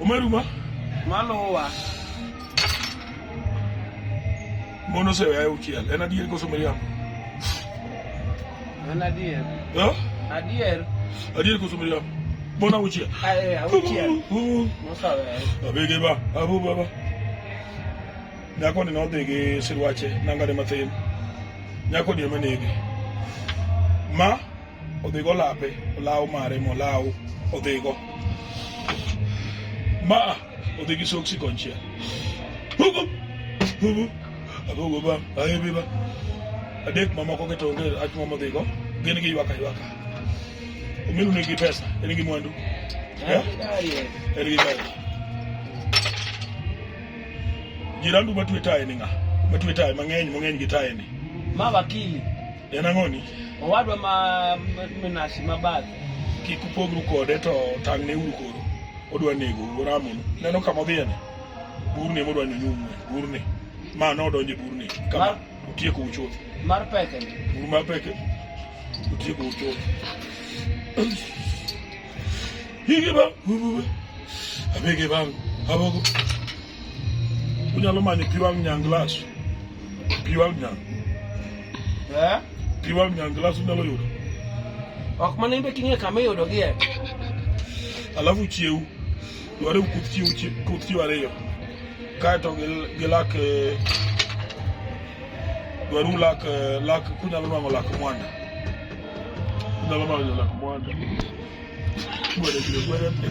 Umeruma? Malowa. Mono se vea uchiel. En adier koso miriambo? En adier. Eh? Adier. Adier koso miriambo? Mono uchiel. Eh, uchiel. Mosa vea. Abege ba, abu ba ba. Nyako ni nodhi gi sirwache nangane mathin. Nyako ni ema nege. Ma odhigo lape olaw mare molaw odhigo ma odhi gi soksi konchiel hugo hugo apogo ba ahebi ba adek mamoko keto onge ach mama odhigo gin gi ywaka ywaka omiru nigi pesa en gi mwandu eh? en gi gari jirandu matwe taye ni ng'a matwe taye mang'eny mang'eny gi taye ni ma wakili En ang'oni? Owadwa ma minashi mabathe. Kik upogru kode to tang'ne uru koro. Odwa nego uramonu. Neno kama odhiyeni? Burni ema odwa nyonyumwe. Burni. Ma nodonje burni. Kama utieko uchuth. Mar peke. Bur mar peke. Utieko uchuth. Higi ba. Abege bangu. Abogo. Unyalo manyo pi wang' nyang glass. Pi wang' nyang. Eh? Pi wang' nyang glass unyalo yudo. Ok mana imbe king'e kama iyudogie. Alafu chiew. Dware ukuth chiew chie- kuth chiew ariyo. Kaeto gil- gilak eh, dware ulak eh, lak kunyalo nwang'o lak mwanda. Unyalo manyo lak mwanda. Gwere gwere gwere.